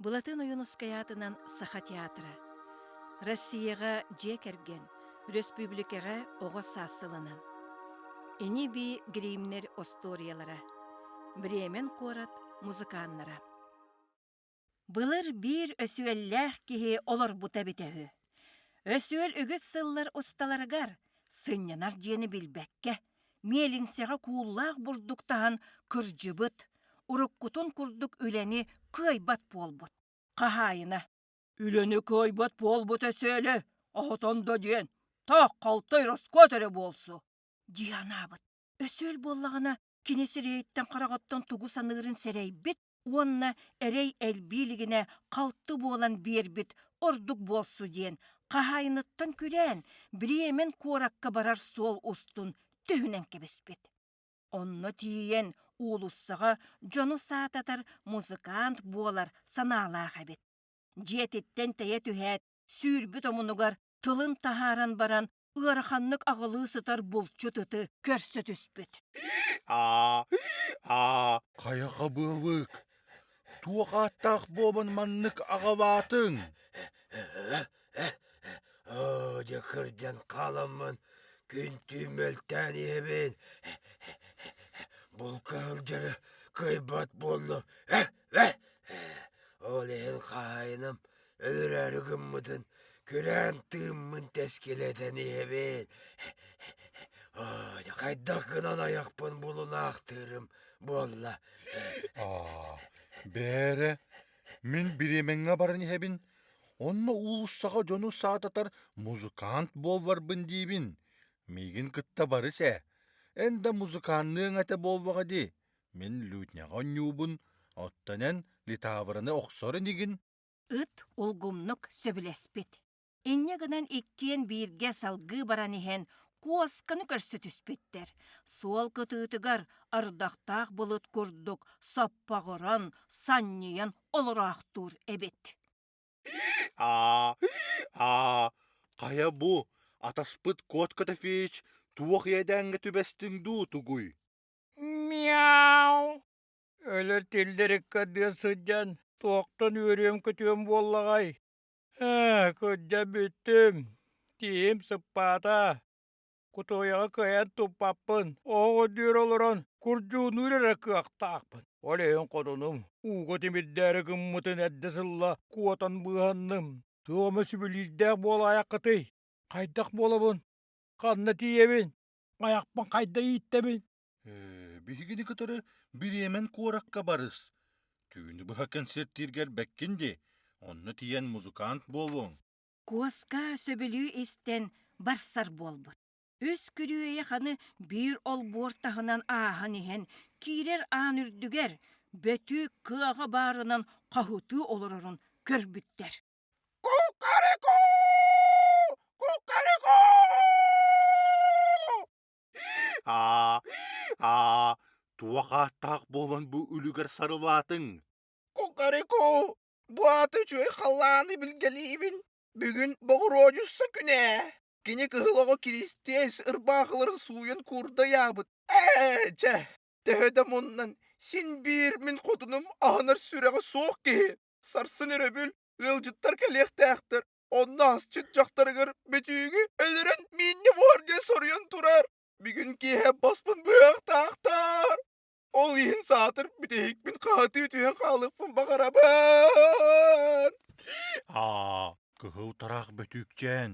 Былатын Ойуунускай аатынан Саха театра. Россияҕа дьиэ кэргэн, өрөспүүбүлүкэҕэ оҕо саас сылынан. Ини-бии гримнэр остуоруйалара. Бремен куорат музыканнара. Былыр биир өсүөллээх киһи олорбута эбитэ үһү. Өсүөл үгүс сыллар усталарыгар сынньанар дьиэни билбэккэ миэлиҥсэҕэ кууллаах бурдук таһан кырдьыбыт, уруккутун курдук үлэни кыайбат буолбут хаһаайына «Үлэни кыайбат буолбут өсөөлө, оһотон да диэн, таах халтай роскот эрэ буолсу» дии анаабыт. Өсөөл буоллаҕына кини сирэйиттэн-хараҕыттан тугу саныырын сэрэйбит, уонна эрэй элбии илигинэ халты буолан биэрбит ордук буолсу диэн хаһаайыныттан күрээн бириэмэн куоракка барар суол устун түһүнэн кэбиспит. Онно тиийэн уулуссаҕа дьону саататар музыкант буолар санаалаах эбит. Дьиэтиттэн тэйэ түһээт сүүрбүт омунугар тылын таһааран баран ыараханнык аҕылыы сытар булчут ыты көрсө түспүт. Аа, аа, хайаха быалык? Туох ааттаах буобан маннык аҕалаатыҥ? Оо, дьэ кырдьан хааламмын күнтүү мөлтөөн иһэбин. Булка сылдьары кыайбат буоллум. Ол иһин хаһайынам Өлөрөөрү гыммытын күрээн тыыммын тэскилэтэн иһэбин, хайдах гынан айахпын булунаахтыырым буолла. Бээрэ, мин бириэмэҥҥэ баран иһэбин, онно уулуссаҕа дьону саататар музыкант буолларбын диибин. Миигин кытта барыс ээ, эн да музыканныаҥ этэ буоллаҕа дии, мин лютняҕа онньуубун, оттон эн литаавыраны охсор инигин Ыт улгумнук сөбүлэспит. Инньэ гынан иккиэн бииргэ салгыы баран иһэн куосканы көрсө түспүттэр. Суол кытыытыгар ордохтоох булут курдук соппоҕуран, санньыйан олороохтуур эбит. Аа, аа, хайа бу атаспыт кот Котофеич туох иэдээҥҥэ түбэстиҥ дуу тугуй? Мяу! Өлөр тиллэриккэ тыа сылдьан туохтан үөрүөм-көтүөм буоллаҕай? Ээ, кырдьа бүттүм. Тииһим сыппаата. Кутуойаҕа кыайан туппаппын, оһох үрдүгэр олорон курдьууннуур эрэ кыахтаахпын. Ол иһин хотунум ууга тимирдээри гыммытын эрдэ сылла куотан быыһанным. Туох эмэ сүбэлиирдээх буолаайаххытый? Хайдах буолабын? Ханна тиийэбин? Айахпын хайда ииттэбин? Ээ, биһигини кытары бириэмэн куоракка барыс. Түүнү быһа кэнсиэртииргэр бэккин дии, онно тиийэн музыкант буолуоҥ. Куоска сөбүлүү истэн барсар буолбут. Үс күрүөйэх аны биир олбуор таһынан ааһан иһэн киирэр аан үрдүгэр бөтүүк кыаҕа баарынан хоһутуу олорорун көрбүттэр. Кукареку! Кукареку! Аа, аа, туох ааттаах буолан бу үлүгэр сарылаатыҥ? Кукарику, бу ааты үчүгэй халлааны билгэлиибин. Бүгүн боҕуруодьусса күнэ. Кини кыһыл оҕо Киристиэс ырбаахыларын сууйан куурдайаабыт. Ээ, дьэ, төһө да муннан, син биир мин хотунум аһынар сүрэҕэ суох киһи. Сарсын өрөбүл ыалдьыттар кэлиэхтээхтэр. Онно асчыт дьахтарыгар бүтүүгү өлөрөн миинньэ буһар диэн соруйан турар. Бүгүн киэһэ боспун быһахтаахтар. Ол иһин саатар бүтэһикмин хаатыы түһэн хаалыахпын баҕарабын. Аа, кыһыл тараах бөтүүкчээн,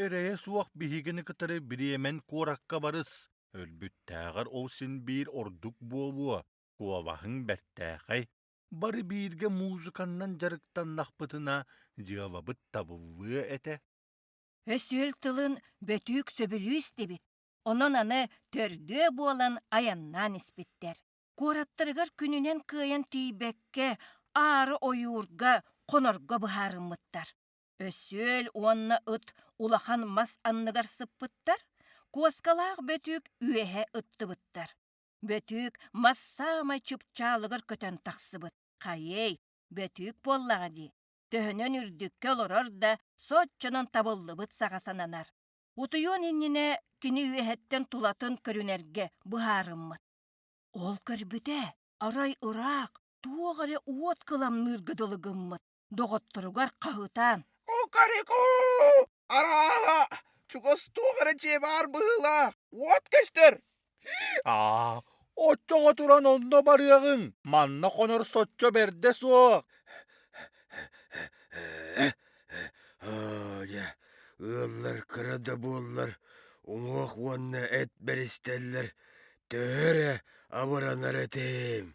эрэйэ суох биһигини кытары бириэмэн куоракка барыс. Өлбүттээҕэр ол син биир ордук буолуо. Куобаһыҥ бэртээхэй. Бары бииргэ музыканнан дьарыктаннахпытына, дьыалабыт табыллыа этэ. Өсүөл тылын бөтүүк сөбүлүү истибит, онон аны төрдүө буолан айаннаан испиттэр. Куораттарыгар күнүнэн кыайан тиийбэккэ, аары ойуурга, хонорго быһаарыммыттар. Өсүөл уонна ыт улахан мас анныгар сыппыттар, куоскалаах бөтүүк үөһэ ыттыбыттар. Бөтүүк мас саамай чыпчаалыгар көтөн тахсыбыт. Хайыай, Бөтүүк буоллаҕа дии. Төһөнөн үрдүккэ олорор да, соччонон табыллыбыт саҕа сананар. Утуйуон иннинэ кини үөһэттэн тулатын көрүнэргэ быһаарыммыт. Ол көрбүтэ, арай ыраах, туох эрэ уот кыламныырга дылы гыммыт. доҕотторугар хаһытаан «Уу карику! Арааһа, чугас туох эрэ дьиэ баар быһыылаах, уот көстөр!» «Аа, оччоҕо туран онно барыаҕыҥ, манна хонор соччо бэрдэ суох!» Дьэ, ыаллар кыра да буоллар, уҥуох уонна эт бэристэллэр, төһө эрэ абыранар этим.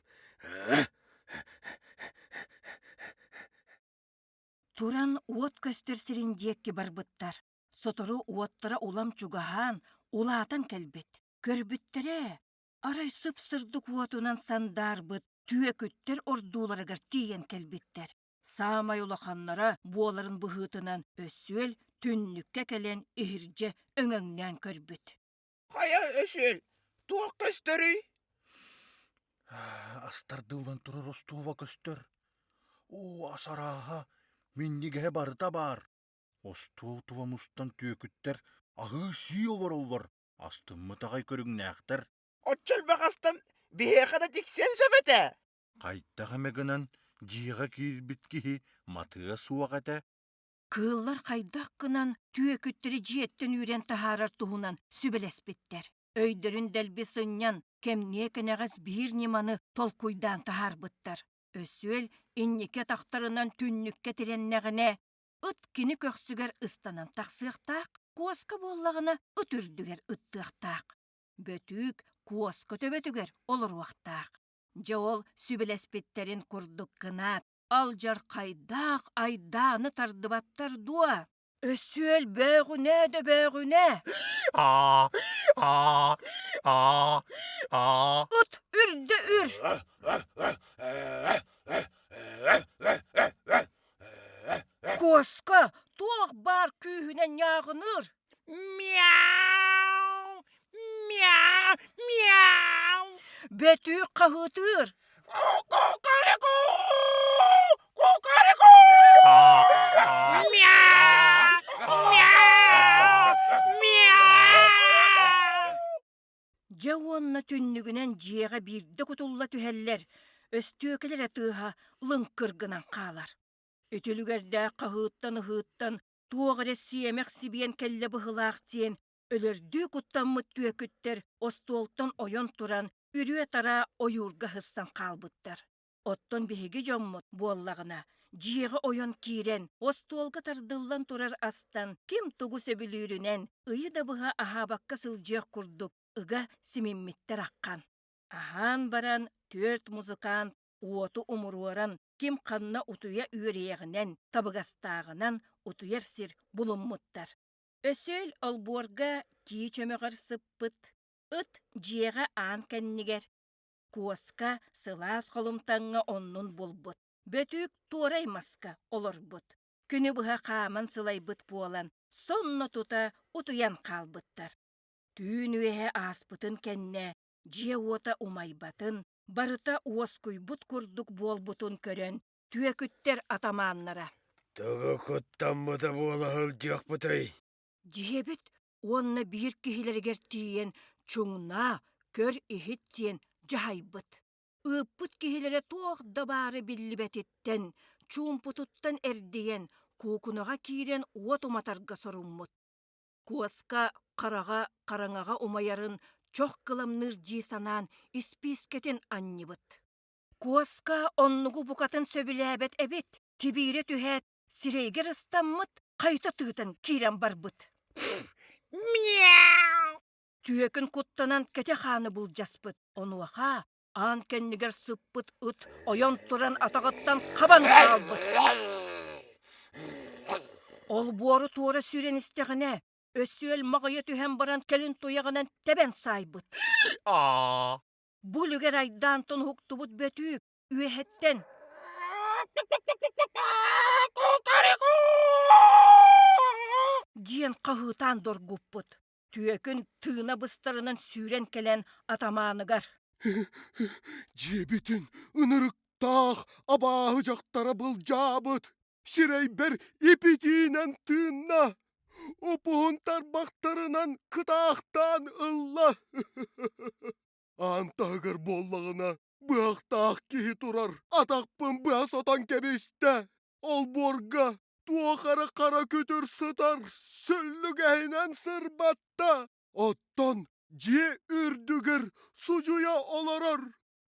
туран уот көстөр сирин диэки барбыттар сотору уоттара улам чугаһаан улаатан кэлбит көрбүттэрэ арай сып сырдык уотунан сандаарбыт түөкүттэр ордууларыгар тиийэн кэлбиттэр саамай улаханнара буоларын быһыытынан өсүөл түннүккэ кэлэн иһирдьэ өҥөҥнөөн көрбүт Хайа өсүөл, туох көстөрүй? Астардыллан турар остуоба көстөр. Оо, ас арааһа, минньигэһэ барыта баар. Остуотуба мустан түөкүттэр аһыы-сии олороллор, астыммыт аҕай көрүҥнээхтэр. Оччо элбэх астан биһиэхэ да тиксиэн сөп этэ. Хайдах эмэ гынан дьиэҕэ киирбит киһи матыа суох этэ. Кыыллар хайдах гынан түөкүттэри дьиэттэн үүрэн таһаарар туһунан сүбэлэспиттэр. Өйдөрүн дэлби сынньан, кэмниэ кэнэҕэс биир ньыманы толкуйдаан таһаарбыттар. Өсүөл инники атахтарынан түннүккэ тирэннэҕинэ, ыт кини көхсүгэр ыстанан тахсыахтаах, куоска буоллаҕына ыт үрдүгэр ыттыахтаах. Бөтүүк куоска төбөтүгэр олоруохтаах. Дьэ ол сүбэлэспиттэрин курдук гынаат, алдьархайдаах айдааны тардыбаттар дуо? Өссө өл бөөҕүнэ да бөөҕүнэ! От үрдэ үр! Куоска туох баар күүһүнэн ньааҕыныыр! Мяу! Мяу! Мяу! Бөтүүк хаһыытыыр. Дьэ уонна түннүгүнэн дьиэҕэ биирдэ кутулла түһэллэр, өстүөкэлэрэ тыаһа лыҥкыргынан хаалар. Үтүлүгэрдээх хаһыыттан-ыһыыттан Туох эрэ сиэмэх сибиэн кэллэ быһылаах диэн өлөрдүү куттаммыт түөкүттэр остуолтан ойон туран үрүө-тараа ойуурга ыһыссан хаалбыттар. Оттон биһиги дьоммут буоллаҕына, дьиэҕэ ойон киирэн, остуолга тардыллан турар астан, ким тугу сөбүлүүрүнэн ыйы да быһа аһаабакка сылдьыах курдук ыга симиммиттэр ахан. Аһаан баран, түөрт музыкант уоту умуруоран, ким ханна утуйа үөрүйэҕинэн, табыгастааҕынан утуйар сир булуммуттар. Өсөөл олбуорга тии чөмөҕөр сыппыт, ыт дьиэҕэ аан кэннигэр, куоска сылаас холумтаҥҥа оннун булбут, бөтүүк туорай маска олорбут. Күнү быһа хааман сылайбыт буолан, сонно тута утуйан хаалбыттар. Түүн үөһэ ааспытын кэннэ, дьиэ уота умайбатын, барыта уоскуйбут курдук буолбутун көрөн түөкүттэр атамааннара «Төбө куттаммыта буола сылдьыахпытый?» дьиэбит уонна биир киһилэригэр тиийэн чуҥнаа көр-иһит диэн дьаһайбыт ыыппыт киһилэрэ туох да баары биллибэтиттэн чуумпутуттан эрдийэн куукунаҕа киирэн уот уматарга соруммут Куоска хараҕа хараҥаҕа умайарын чох кыламныыр дии санаан испиискэтин анньыбыт. Куоска оннугу букатын сөбүлээбэт эбит, кибиирэ түһээт, сирэйигэр ыстаммыт, хайта тыытан киирэн барбыт. «Мяу!» Түөкүн куттанан кэтэ хааны былдьаспыт. Онуоха аан кэннигэр сыппыт ыт ойон туран атаҕыттан хабан хаалбыт. Олбуору туора сүүрэн истэҕинэ, Өсүөл маҕыйа түһэн баран кэлин туйаҕынан тэбэн саайбыт. Бу үлүгэр айдаан тунуһуктубут бөтүүк үөһэттэн диэн хаһыытаан доргуппут. түөкүн тыына быстарынан сүүрэн кэлэн атамааныгар дьиэбитин ынырыктаах абааһы дьахтара былдьаабыт сирэйбэр ипитиинэн тыынна опуһун тарбахтарынан кытаахтаан ылла аан таһыгар буоллаҕына Быһахтаах киһи турар. Атахпын быһа сотон кэбистэ. Олбуорга туох эрэ хара күтүр сытар сөллүгэһинэн сырбатта. Оттон дьиэ үрдүгэр судьуйа олорор.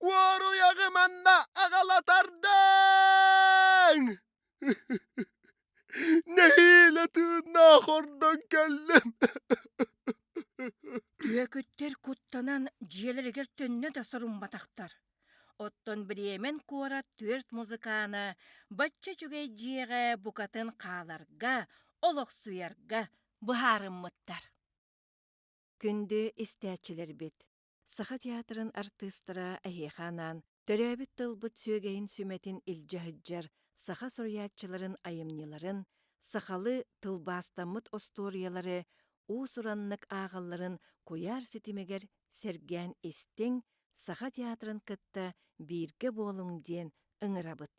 Уоруйаҕы манна аҕалатардыҥ! Нэһиилэ тыыннаах ордон кэллим Үөкүттэр куттанан дьиэлэригэр төннө да сорумматахтар. Оттон Бремен куорат түөрт музыкаана бачча үчүгэй дьиэҕэ букатын хааларга, олохсуйарга быһаарыммыттар. Күндү истээччилэрбит! Саха театрын артыыстара эһиэхэ анаан төрөөбүт тылбыт сүөгэйин сүмэтин илдьэ сылдьар саха суруйааччыларын айымньыларын, сахалы тылбаастаммыт остуоруйалары, уус-ураннык ааҕалларын куйаар ситимигэр сэргээн истиҥ, саха театрын кытта бииргэ буолуҥ диэн ыҥырабыт.